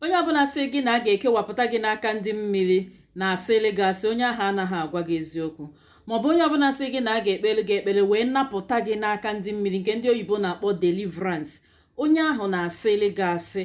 onye ọbụla sị gị na a ga-ekewapụta gị n'aka ndị mmiri na-asịlị gị asị onye ahụ anaghị agwa gị eziokwu maọbụ onye ọbụla sị gị na a ga-ekpere gị ekpere wee napụta gị n'aka ndị mmiri nke ndị oyibo na-akpọ deliverance onye ahụ na-asịlị gị asị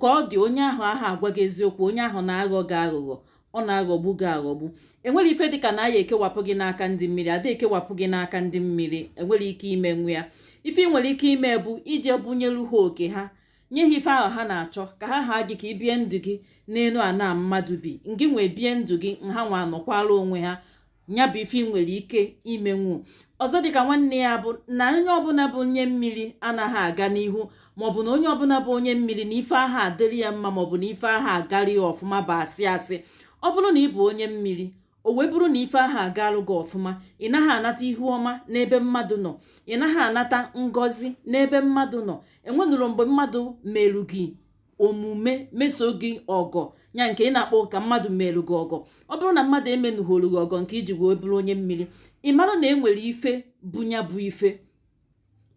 ka ọ dị onye ahụ aha agwa gị eziokwu onye ahụ na-aghọ gị aghụghọ ọ na-aghọgbu gị aghọgbu enwerọ ife dịka na a ya-ekewapụ gị n'aka ndị mmiri ada ekewapụ gị n'aka ndị mmiri enwerọ ike imenwu ya ife ị nwere ike ime bụ ije bunyelu ha oke ha nye ha ife ahụ ha na-achọ ka ha ha gị ka ị bie ndụ gị n'elu ana mmadụ bi ngị nwa ebie ndụ gị ha nwa anọkwala onwe ha ya bụ ife ị nwere ike imenwu ọzọ dịka nwanne ya bụ na onye ọbụla bụ onye mmiri anaghị aga n'ihu maọbụ na onye ọbụla bụ onye mmiri na ife aha adịrị ya mma maọbụ na ife aha agarị ya ọfụma bụ asị asị ọ bụrụ na ị bụ onye mmiri o wee bụrụ na ife aha agalụ gị ọfụma ị naghị anata ihu ọma n'ebe mmadụ nọ ị naghị anata ngọzi n'ebe mmadụ nọ enwenụrụ mgbe mmadụ meru gị omume meso gị ọgọ ya nke ị na-akpọ ka mmadụ meru gị ọgọ ọ bụrụ na mmadụ emenụgholu gị ọgọ nke iji wee bụrụ onye mmiri ị mara na e nwere ife bu ya bụ ife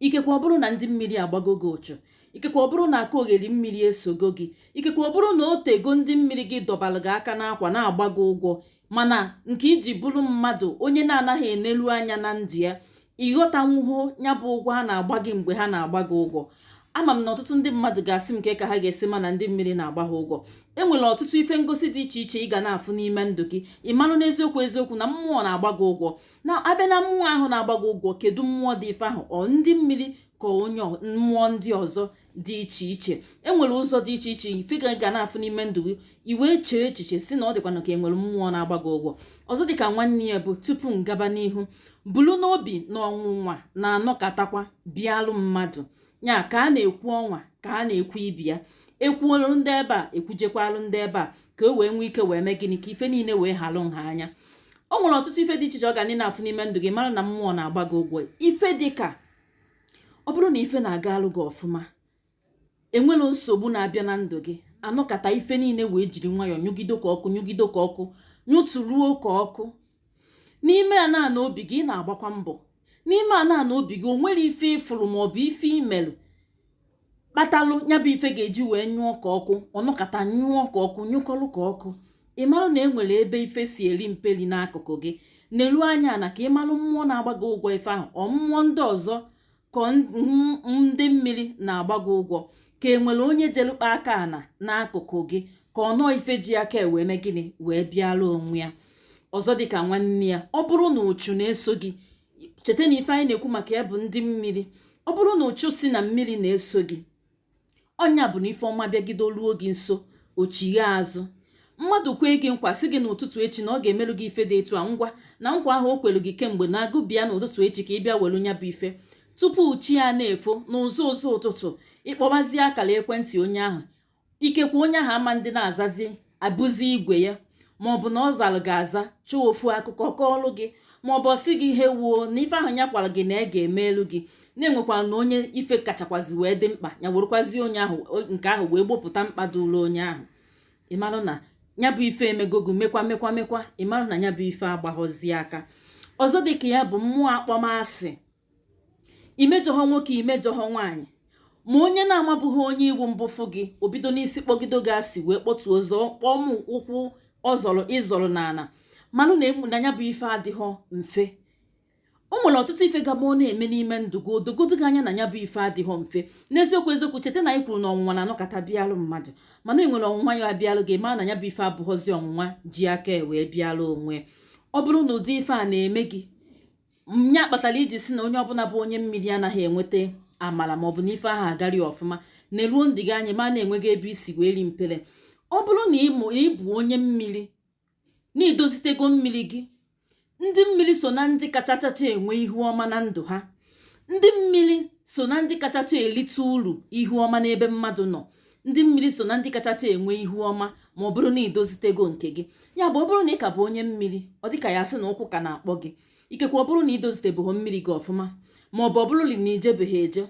ikekwe ọ bụrụ na ndị mmiri agbago gị ụchụ ikekwe ọ bụrụ na aka ogheri mmiri esogo gị ikekwe ọ bụrụ na o tego ndị mmiri gị dọbara gị aka n'akwa na-agba gị ụgwọ mana nke iji bụrụ mmadụ onye na-anaghị enelu anya na ndụ ya ịghọtanwuho ya bụ ụgwọ ha na-agba gị mgbe ha na-agba gị ụgwọ ama m na ọtụtụ ndị mmadụ ga-asị m kee ka ha ga-esi ma na ndị mmiri na-agba ha ụgwọ e nwere ọtụtụ ife ngosi dị iche iche ị ga na-afụ n'ime ndụ gị ị marụ n'eziokwu eziokwu na mmụọ na-agba gị ụgwọ na a bịa na mmụọ ahụ na-agba gị ụgwọ kedu mmụọ dị ife ahụ ọ ndị mmiri ka onye mmụọ ndị ọzọ dị iche iche enwere ụzọ dị iche iche ife ị ga na-afụ n'ime ndụ gị i wee chee echiche sị na ọ dịkwanụ ka enwere mmụọ na-agba gị ụgwọ ọzọ dịka nwanne ya bụ tupu m gaba n'ihu bulu n'obi na ọnwụnwa na-anọkatakwa bịalụ mmadụ ya ka a na-ekwu ọnwa ka a na-ekwu ibe ya ekwuolu ndị ebe a ekwujekwalụ ndị ebe a ka e wee nwee ike wee mee gịnị ka ife niile wee halụ nha anya o nwere ọtụtụ ife dị iche iche ị ga na-afụ n'ime ndụ gị mara na mmụọ na-agba gị ụgwọ ife dị ka ọ bụrụ na ife na-agalụ gị ọfụma enwerọ nsogbu na-abịa na ndụ gị anọkata ife niile wee jiri nwayọọ nyụgido ka ọkụ nyụgido ka ọkụ nyụtụruo ka ọkụ n'ime ana na obi gị ị na-agbakwa mbọ n'ime ana na obi gị o nwere ife ịfụrụ ma ọ bụ ife imelụ kpatalụ ya bụ ife ga-eji wee nyụọ ka ọkụ ọ nọkata nyụọ ka ọkụ nyụkọlụ ka ọkụ ị marụ na e nwere ebe ife si eri mperi n'akụkụ gị nelu anya ana ka ị marụ mmụọ na-agba gị ụgwọ ife ahụ ọ mmụọ ndị ọzọ ka ọ ndị mmiri na-agba gị ụgwọ ka e nwere onye jelu kpa aka ana n'akụkụ gị ka ọ nọọ ife ji aka wee mee gịnị wee bịara onwe ya ọzọ dịka nwanne ya ọ bụrụ na uchu na-eso gị cheta na ife anyị na-ekwu maka ya bụ ndị mmiri ọ bụrụ na uchu si na mmiri na-eso gị ọ nya bụ na ife ọma bịagido ruo gị nso o chighaa azụ mmadụ kwee gị nkwa sị gị n'ụtụtụ echi na ọ ga-emerụ gị ife dị etu a ngwa na nkwa ahụ o kwere gị kemgbe na agụ bịa n'ụtụtụ echi ka ị bịa welu nya bụ ife tupu chi a na-efo n'ụzọ ụzọ ụtụtụ ị kpọbazie akara ekwentị onye ahụ ikekwe onye ahụ amadị na-azazi abụzi igwe ya ma ọ bụ na ọ zara gị aza chọọ ofu akụkọ kọọlụ gị ma ọ bụ ọ sị gị hewuo na ife ahụ ya kwara gị na ya ga-emelu gị na e nwekwara onye ife kachakwazi wee dị mkpa ya werekwazi onye ahụ nke ahụ wee gbopụta mkpa dụrụ onye ahụ ị marụ na ya bụ ife emego gị mekwa mekwa mekwa ị marụ na ya bụ ife agbaghọzi aka ọzọ dịka ya bụ mmụọ akpọmasị i mejọhọ nwoke i mejọhọ nwaanyị ma onye na-amabụghị onye ị wụ mbụ fụ gị o bido n'isi kpọgido gị asị wee kpọtuo ọzọ kpọọ ma ụkwụ ọ zọrọ ị zọrọ n'ala manụ na emu na ya bụ ife adịghọ mfe o nwere ọtụtụ ife ga-abụ ọ na-eme n'ime ndụ gị o dogodo gị anya na ya bụ ife adịghọ mfe n'eziokwu eziokwu cheta na anyị kwuru na ọnwụnwa na-anọkata bịalụ mmadụ mana e nwere ọnwụnwa ya abịalụ gị ma na ya bụ ife abụghọzi ọnwụnwa ji aka wee bịalụ onwe ọ bụrụ na ụdị ife a na-eme gị nya kpatara i ji sị na onye ọbụla bụ onye mmiri anaghị enweta amala maọbụ na ife aha agari ọfụma neruo ndụ gị anya ma na enweghị ebe i si wee rie mperi ọ bụrụ na ị bụ onye mmiri na i dozitego mmiri gị ndị mmiri so na ndị kachachacha enwe ihu ọma na ndụ ha ndị mmiri so na ndị kachacha elite uru ihu ọma n'ebe mmadụ nọ ndị mmiri so na ndị kachacha enwe ihu ọma ma ọ bụrụ na i dozitego nke gị ya bụ ọ bụrụ na ị ka bụ onye mmiri ọ dịka ya sị na ụkwụ ka na-akpọ gị ikekwe ọ bụrụ na i dozitebụghị mmiri gị ọfụma ma ọ bụ ọ bụrụ na i jebeghị eje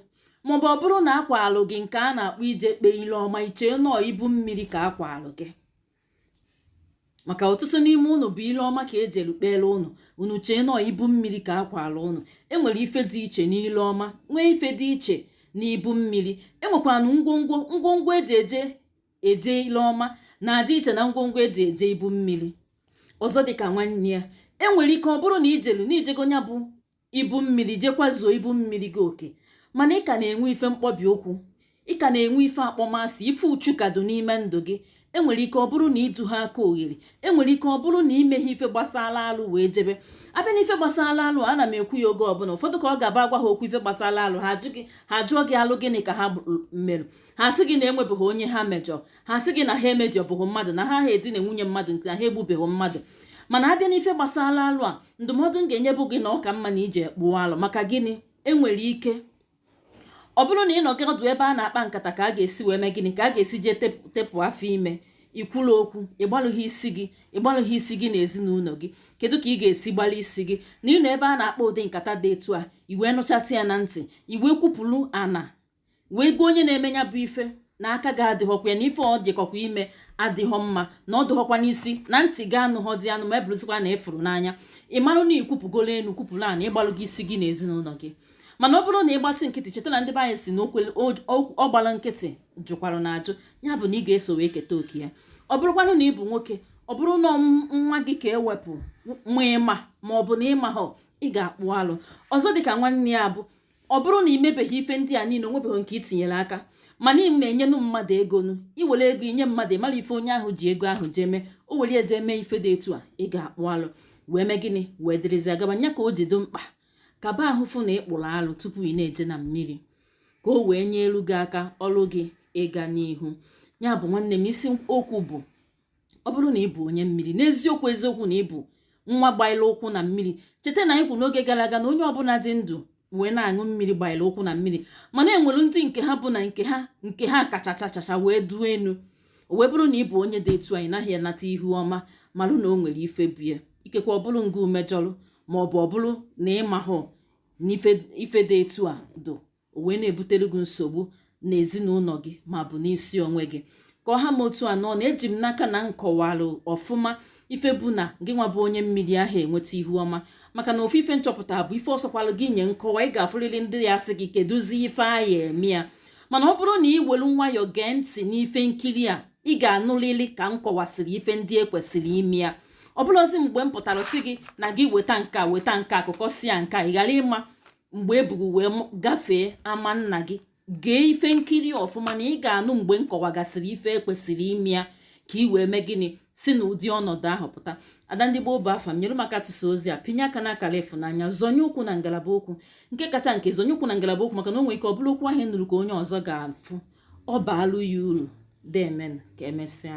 ma ọ bụ ọ bụrụ na a kwaalụ gị nke a na-akpọ ije kpee ile ọma i chee na ọ ibu mmiri ka a kwaalụ gị maka ọtụtụ n'ime ụnụ bụ ile ọma ka e jelu kpere ụnụ unu chee na ọ ibu mmiri ka a kwara ụnụ enwere ife dị iche n'ile ọma nwee ife dị iche n'ibu mmiri enwekwanụ ngwongwo ngwongwo eji eje eje ile ọma na-adị iche na ngwongwo eji eje ibu mmiri ọzọ dịka nwanne ya enwere ike ọ bụrụ na i jelu na i jego nya bụ ibu mmiri jekwa zuo ibu mmiri gị oke mana ị ka na-enwe ife mkpọbi ụkwụ ị ka na-enwe ife akpọmasị ife uchu ka dị n'ime ndụ gị enwere ike ọ bụrụ na ịdụ ha aka oghere enwere ike ọ bụrụ na i meghị ife gbasara alụ wee jebe a bịa na ife gbasara alụ ana m ekwu ya oge ọbụla ụfọdụ ka ọ ga-abụ a gwa ha okwu ife gbasara alụ ha ajụọ gị ha jụọ gị alụ gịnị ka ha mere ha sị gị na enwebeghị onye ha mejọ ha sị gị na ha emejọbụghị mmadụ na ha aha edina nwunye mmadụ nke na ha egbubeghị mmadụ mana a bịa n'ife gbasara alụ a ndụmọdụ m ga-enye bụ gị na ọ ka mma na i je kpụọ alụ maka gịnị e nwere ike ọ bụrụ na ị nọgị ọdụ ebe a na-akpa nkata ka a ga-esi wee mee gịnị ka a ga-esi jee tepụ afọ ime ikwuru okwu ịgbalụghị isi gị ịgbalụghị isi gị na ezinụlọ gị kedu ka ị ga-esi gbalụ isi gị na ị nọ ebe a na-akpa ụdị nkata dị etu a i wee nụchata ya na ntị i wee kwupụrụ ana wee gwa onye na-eme ya bụ ife na aka gị adịghọkwa ya na ife o jekọkwa ime adịghọ mma na ọ dịghọkwa n'isi na ntị gị anụghọ dị anụ ma ya bụrụzikwa na ị fụrụ n'anya ị marụ na i kwupụgolo elu kwupụrụ ana ị gbalụgo isi gị na ezinụlọ gị mana ọ bụrụ na ị gbachi nkịtị cheta na ndị be anyị si na ọ gbara nkịtị jụkwara na ajụ ya bụ na ị ga-eso wee keta oke ya ọ bụrụkwanụ na ị bụ nwoke ọ bụrụ na nwa gị ka e wepụ ma ị ma ma ọ bụ na ị mahọ ị ga-akpụ alụ ọzọ dịka nwanne ya bụ ọ bụrụ na ị mebeghị ife ndị a niile o nwebeghị nke i tinyere aka mana ị na-enyenụ mmadụ ego nụ i were ego i nye mmadụ ị mara ife onye ahụ ji ego ahụ jee mee o were ya je mee ife dị etu a ị ga-akpụ alụ wee mee gịnị wee dịrịzi agaba nya ka o ji dị mkpa kaba ahụ fụ na ị kpụrụ alụ tupu ị na-eje na mmiri ka o wee nyelu gị aka ọrụ gị ịga n'ihu ya bụ nwanne m isi okwu bụ ọ bụrụ na ị bụ onye mmiri n'eziokwu eziokwu na ị bụ nwa gbaila ụkwụ na mmiri cheta na anyị kwuru n'oge gara aga na onye ọbụla dị ndụ wee na-aṅụ mmiri gbaila ụkwụ na mmiri mana e nwere ndị nke ha bụ na nke ha nke ha kacha chachacha wee duo enu o wee bụrụ na ị bụ onye dị etu a ị naghị anata ihu ọma malụ na o nwere ife bụ ya ikekwe ọ bụrụ nga ị mejọrụ ma ọ bụ ọ bụrụ na ị mahọ na ife dị etu a dị o wee na-ebutere gị nsogbu na ezinụlọ gị ma bụ n'isi onwe gị ka ọ ha m otu a n'ọnụ eji m n'aka na m kọwara ọfụma ife bụ na gị nwa bụ onye mmiri aha enweta ihu ọma maka na ofu ife nchọpụta bụ ife ọ sọkwalụ gị nye nkọwa ị ga-afụrịrị ndị ya-asị gị kedụzi ife a ya-eme ya mana ọ bụrụ na ị welu nwayọọ gee ntị n'ife nkiri a ị ga-anụlili ka m kọwasịrị ife ndị e kwesịrị ime ya ọ bụrụzi mgbe m pụtara sị gị na gị weta nka weta nka akụkọ si ya nka ị ghara ịma mgbe e bu gị wee gafee ama nna gị gee ife nkiri ọfụma na ị ga-anụ mgbe m kọwagasịrị ife e kwesịrị ime ya ka ị wee mee gịnị si na ụdị ọnọdụ ahụ pụta ada ndị gboo bụ afa m nyere m aka tụsaa ozi a pịnye aka n'akara ịfụnanya zonye ụkwụ na ngalaba okwu nke kacha nke zonye ụkwụ na ngalaba okwu maka na o nwere ike ọ bụrụ okwu ahụ nụrụ ka onye ọzọ ga-afụ ọ baalụ ya uru deeme nụ ka emesịa